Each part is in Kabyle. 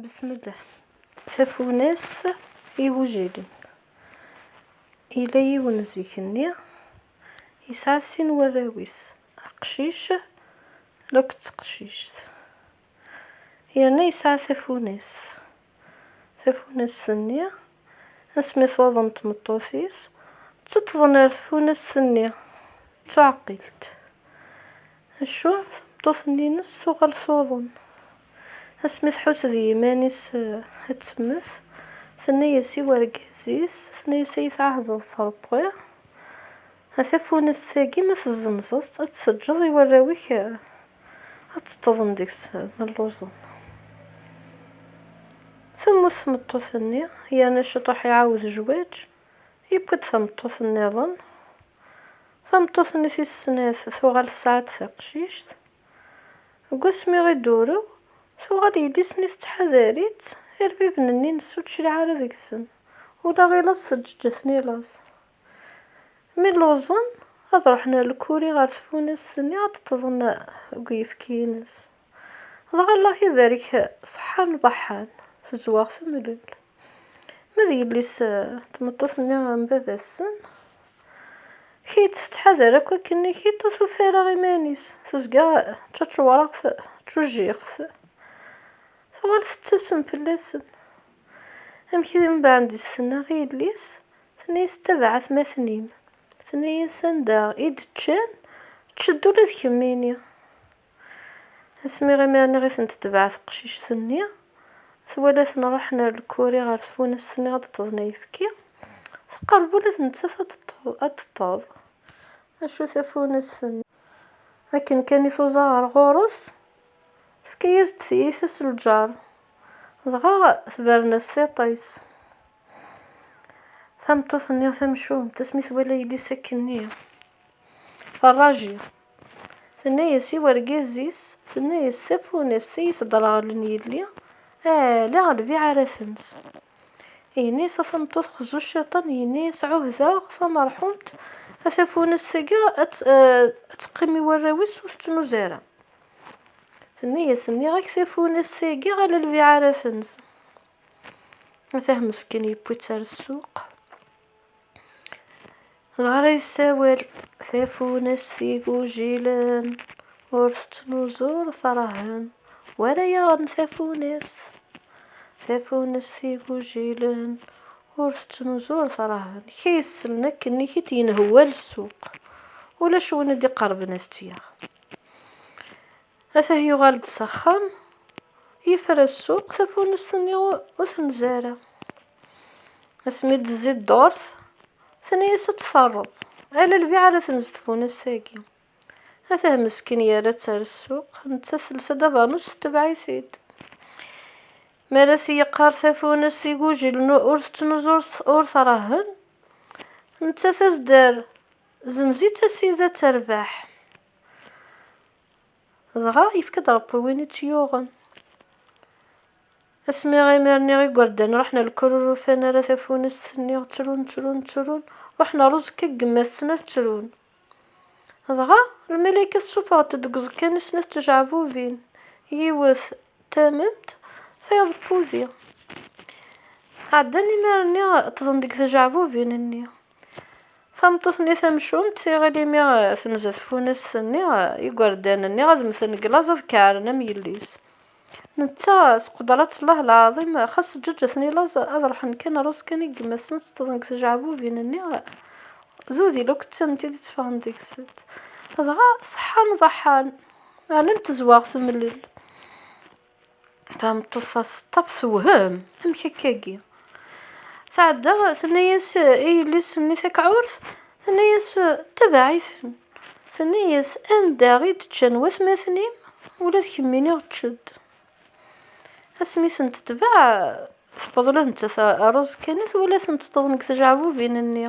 bismillah tafunast igujilen yella yiwen zik-nni yesɛa sin warraw-is aqcic akked teqcict yerna yesɛa tafunast tafunast-nni Asmi tuḍen tmeṭṭut-is, ţţeṭṭḍen ar tfunast-nni, d tuɛqilt. Acu, tameṭṭut-nni-ines tuɣal tuḍen. Asmi tḥus d yiman-is ad temmet, tenna-yas i wergaz-is, tenna-yas, Ay tɛahdeḍ s Ṛebbi? A tafunast-agi ma tezzenzeḍ-tt ad tseǧǧeḍ i warraw-ik ad ṭṭeḍen deg-s ma lluẓen. Temmut tmeṭṭut-nni yerna Ciṭuḥ iɛawed jwaǧ, yewwi-d tameṭṭut nniḍen. Tameṭṭut-nni tis snat tuɣal tesɛa-d taqcict. Deg wasmi i d-turew, tuɣal yelli-s-nni tettḥadar-itt, irbiben-nni nessučliɛ ara deg-sen, ula i laẓ teǧǧeǧǧ-iten i laẓ. Mi lluẓen, ad ruḥen ar lkuri ɣer tfunast-nni ad ṭṭḍen deg uyefki-ines. Dɣa Allah ibarek ṣeḥḥan ḍeḥḥan, tezweɣ temlel. Ma d yelli-s tmeṭṭut-nni am baba-tsen, Kit tettḥadar akk akken-nni, Kit ur tufi ara iman-is, tezga d taččewṛaɣt d tujjiɣt. Tuɣal tettasem fell-asen. Amek i mbeɛd i s-tenna i yelli-s? Tenna-yas ttabeɛ atmaten-im. Tenna-yas anda i d-ččan, čč-d ula d kemmini. Asmi imi niɣ i tent-tebɛa teqcict-nni, twala-ten ruḥen ar lkuri ɣer tfunast niɣ ad d-ṭṭḍen ayefki, teqreb ula d nettat ad d-ṭṭeḍ, acu tafunast-nni. Akken kan i tuẓa ɣer ɣur-s, tefka-yas-d tiyita s lǧar, dɣa tebren-as tiṭ-is. Tameṭṭut-nni tamcumt, asmi twala yelli-s akkenni, terraji. Tenna-yas i wergaz-is, tenna-yas tafunast i yi-sderɣlen yelli, ala lbiɛ ara tens. Yenna-yas a tameṭṭut xzu cciṭan, yenna-yas ɛuhdeɣ tamerḥumt, a tafunast-agi ad teqqim i warraw-is ur tettnuz ara. Tenna-yas nniɣ-ak tafunast-agi ala lbiɛ ara tens. Atah meskin yewwi-tt ar ssuq. Dɣa ara yessawel tafunast igujilen ur tettnuzu ur trahen wara yaɣen tafunast. Tafunast igujilen ur tettnuzu ur trahen. Kra yesslen akken i t-yenhewwal ssuq. Ulac win i d-iqerben ad t-yaɣ. Ata yuɣal-d s axxam, yefra ssuq, tafunest-nni ur tenzi ara. Asmi d-tezzi ddurt, tenna-as ad tt-terreḍ, ala lbiɛ ara tenz tfunast-agi. Atah meskin yerra-tt ar ssuq, nettat telsa-d abernus tetbeɛ-it-id. Mi ara as-yeqqar tafunest igujilen ur tettnuz ur trahen, nettat ad as-d-terr, Zenz-itt a sidi ad terbeḥ. Dɣa yefka-d Ṛebbi win i tt-yuɣen. Asmi imir-nni igerdan ruḥen ar lkur ur ufan ara tafunest-nni, ttrun, ttrun, ttrun, ruḥen ar uẓekka deg yemma-tsen ad ttrun. Dɣa lmalayka tessuffeɣ-d-d deg uẓekka-nni snat tjeɛbubin, yiwet d tamemt, tayeḍ d wudi. Ɛeddan imir-nni ṭṭḍen deg tjeɛbubin-nni. Tameṭṭut-nni tamcumt tiɣil imi tenza tfunast-nni, igerdan-nni ad mmten deg laẓ ad keɛren am yelli-s. Netta s qudrat-llah lɛaḍim, xas ǧǧeǧǧ-ten i laẓ ad ruḥen kan rrus kan i yemma-sen ṣeṭṭḍen deg tjeɛbubin-nni, d udil akk d tamemt i d-itteffɣen deg-sent. Dɣa ṣeḥḥan ḍaḥḥan, rnan tezweɣ temlel. Tameṭṭut-a teṣṭaf tewhem, amek akka-agi? Tɛedda, tenna-yas i yelli-s-nni takɛurt, tenna-yas tebaɛ-iten. Tenna-yas, anda i d-ččan watmaten-im, ula d kemmini ečč-d. Asmi tent-tbaɛ, tewweḍ ula d nettat rreẓ kan i twala tent-ṭṭḍen deg tjeɛbubin-nni.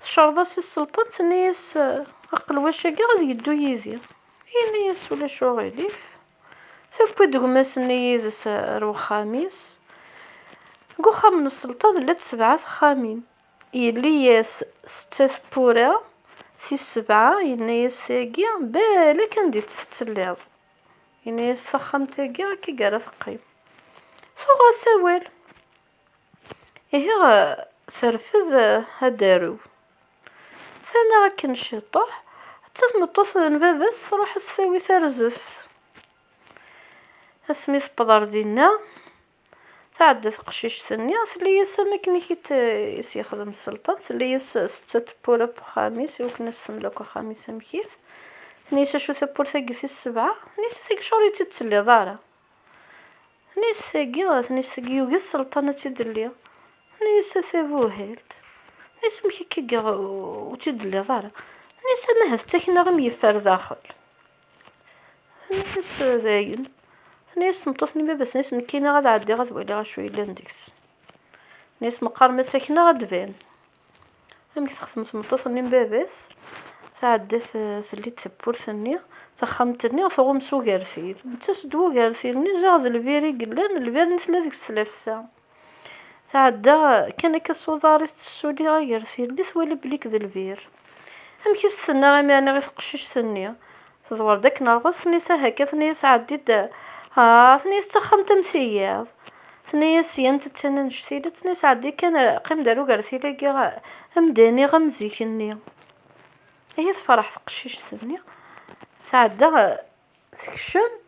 Tecreḍ-as i Selṭan, tenna-yas, Aqelwac-agi ad yeddu yid-i. Yenna-yas, Ulac uɣilif. Tewwi-d gma-s-nni yid-s ar wexxam-is. Deg uxxam n Selṭan llant sebɛa texxamin. Yelli-yas setta tewwura, tis sebɛa yenna-yas tagi balak anda i tt-tettelliḍ. Yenna-yas, Taxxamt-agi akka i ara teqqim. Tuɣ-as awal. Ihi terfed ad d-tarew. Terna akken ciṭuḥ, atta tmeṭṭut n baba-s truḥ ad s-tawi tarzeft. Asmi tewweḍ ar dinna, tɛedda teqcict-nni, telli-as am akken i t-yexdem Selṭan, telli-as setta n tewwura n uxxam-is, i wakken ad s-temel akk axxam-is amek-it. Tenna-as acu tawwurt-agi tis sebɛa? Tenna-as a tigecur i tt-id-telliḍ ara. Nni-as tagi, nni-as tagi, yugi sselṭan ad tt-id-telli. Nni-as a tabuhalt. Nni-as amek akka i geɣ ur tt-id-telliḍ ara. Nni-as ama ahat d takna i m-yeffer daxel. Nni-as dayen. Nni-as tmeṭṭut n baba-s, nni-as nekkini ad ɛeddiɣ ad waliɣ acu yellan deg-s. Nni-as meqqar ma d takna ad d-ban. Amek texdem tmeṭṭut-nni n baba-s? Tɛedda telli-d tawwurt-nni, taxxamt-nni tɣum s ugertil. Yettas-d wugertil-nni ziɣ d lbir i yellan, lbir-nni tella deg-s tlafsa. Tɛedda kan akka s uḍar-is tessuli agertil-nni, twala belli-k d lbir. Amek i s-tenna imir-nni i teqcict-nni? Tḍewwer-d akken rɣes, tenna-yas ah akka, tenna-yas ɛeddi-d ah, tenna-yas d taxxamt am tiyiḍ, tenna-yas yant d tana n jtil-a, tenna-yas ɛeddi kan qqim-d ar ugertil-agi ad m-d-iniɣ am zik-nni. Ihi tefreḥ teqcict-nni, tɛedda tekcem,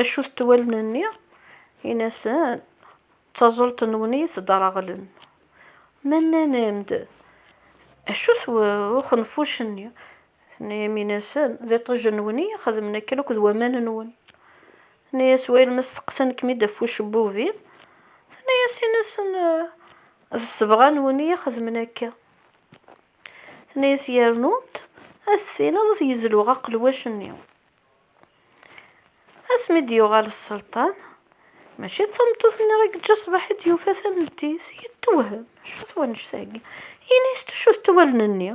Acu-t ṭṭwal-nni? Ini-asen, D taẓult-nwen i yi-sdreɣlen. Ma nnan-am-d, Acu-t uxenfuc-nni? Tenna-yam, Ini-asen, D iṭij-nwen i yi-xedmen akken akked waman-nwen. Tenna-yas, Wayel ma steqsan-kem-id ɣef ucebbub-im, tenna-yas, Ini-asen, D sebɣa-nwen i yi-xedmen akka. Tenna-yas, Yernu-d, a s-tiniḍ ad t-yezluɣ aqelwac-nni. asmi d-yuɣal sselṭan mačči d tameṭṭut-nni ara yeǧǧa ṣṣbeḥ i d-yufa tameddit yettuwhem acu-t wannect-agi ini-as acu d tuwalen-nni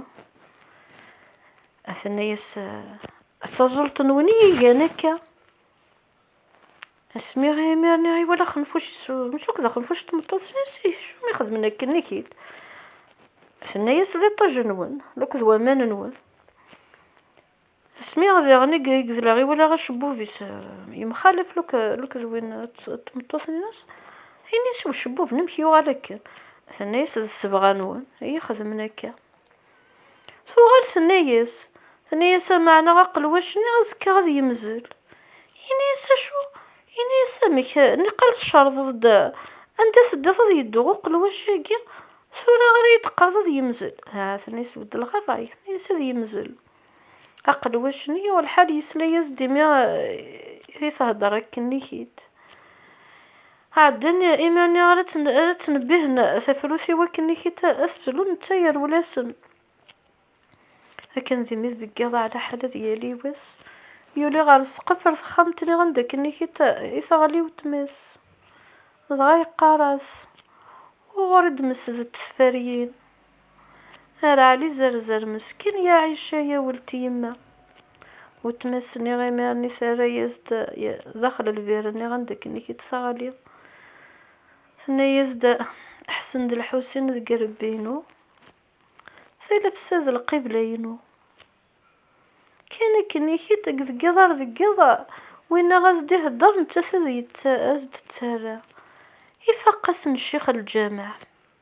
aten-as d taẓult-nwen i igan akka asmi imir-nni iwala xenfuc mačči akk d axenfuc d tmeṭṭut sens acu mi xedmen akken iki-d aten-as d iṭij-nwen akked waman-nwen Asmi diɣen i yegdel i walaɣ acebbub-is yemxalaf lukk d win n tmeṭṭut-nnes, ini-as i ucebbub, Amek yuɣal akken? Tenna-as, D ssebɣa-nwen i yi-xedmen akka. Tuɣal tenna-as, tenna-as, Amaɛna aqelwac-nni azekka ad yemzel. Ini-as, Acu? Ini-as, Amek, niqal tcerḍeḍ-d anda teddiḍ ad yeddu uqelwac-agi, tura ara yi-d-teqqareḍ ad yemzel? Aha, tenna-as, beddleɣ ṛṛay, tenna-as, Ad yemzel. Aqelwac nni yuɣ lḥal yesla-yas-d imi i thedder akken i kit. Ɛeddan iman-nni ara ttnebbihen tafrut i wakken i kit ad t-zlun netta yerwel-asen. Akken d imi deg yiḍ ɛla ḥal ad yali wass, yuli ɣer ssqef ar texxamt-nni anda akken i kit i teɣli wetma-s. Dɣa yeqqar-as, Wuɣur i d-mesdent tferyin? Ar Ɛli Zerzer mesken ya Ɛica ya welt yemma. Wetma-s nniɣ imir-nni terra-yas-d daxel lbir nniɣ anda akken i k-id-teɣli. Tenna-yas-d Ḥsen d Lḥusin deg irebbi-inu, talefsa d lqibla-inu. Kan akken i k-id deg deg iḍ ar deg iḍ winna as-d ihedder nettat ad as-d-terra. Ifaq-asen ccix lǧameɛ.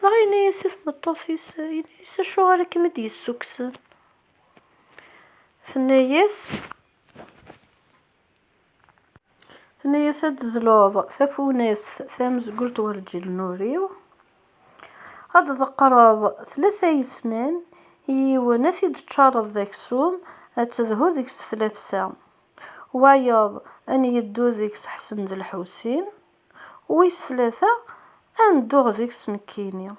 Dɣa yenna-yas i tmeṭṭut-is, yenna-yas acuɣer i kem-id-yessukksen? Tenna-yas, tenna-yas ad d-zluḍ tafunast tamezgult ɣer lǧil-nuri-w, ad d-tḍeqqreḍ tlata yesnan, i yiwen ad t-id-teččareḍ d aksum, ad tedhu deg-s tlafsa, wayeḍ ad n-yeddu deg-s Ḥsen d Lḥusin. wis tlata ad nedduɣ deg-s nekkini.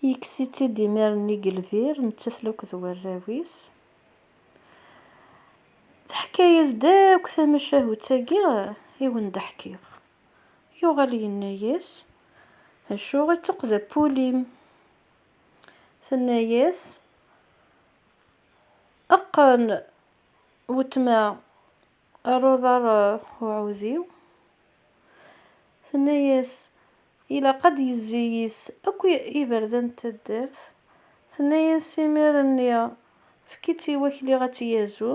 Yekkes-itt-id imir-nni deg lbir, nettat-l akk d warraw-is. Teḥka-yas-d akk tamacahut-agi i wen-d-ḥkiɣ. Yuɣal yenna-yas, Acu i d tuqdapulin? Tenna-yas, Eqqen wetma. ar uḍar uɛudiw, tenna-yas, ilaq ad d-yezzi yis akk iberdan n taddart, tenna-yas, imir-nni efk-itt i wakli ad tt-yazu,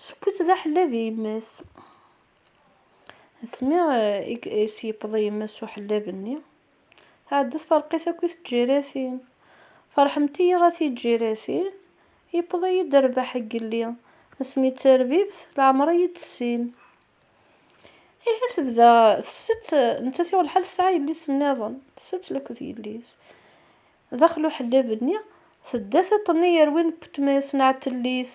seww-itt d aḥellab i yemma-s. Asmi i s-yewweḍ i yemma-s uḥellab-nni. Tɛedda tferq-it akk i tǧiratin. Ferḥemt-iyi a tiǧiratin, yewweḍ-iyi-d rrbeḥ n yelli, asmi d tarbibt leɛmer ad yi-tessin. Ihi tebda tsett, nettat yuɣ lḥal tesɛa yelli-s nniḍen, tsett laked yelli-s. Daxel uḥellab-nni, tedda tiṭ-nni yerwin n wetma-s n Ɛetellis.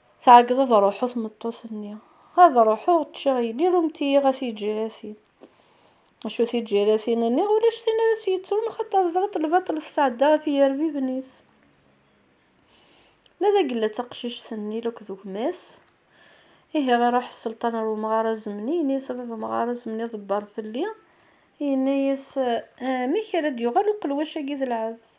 Tɛeggeḍ ad ruḥu tmeṭṭut-nni. Ad ruḥuɣ ččiɣ yelli rumt-iyi ɣas iǧiratin. Acu tiǧiratin nniɣ ulac tin ara s-yettrun xaṭer ẓriṭ lbaṭel tesɛedda ɣef yirbiben-is. Ma d agella d taqcict-nni lakk d gma-s. Ihi iruḥ sselṭan ar umɣar azemni yenna-yas a baba amɣar azemni ḍebber fell-i. Yenna-yas amek ara d-yuɣal uqelwac-agi d lɛebd.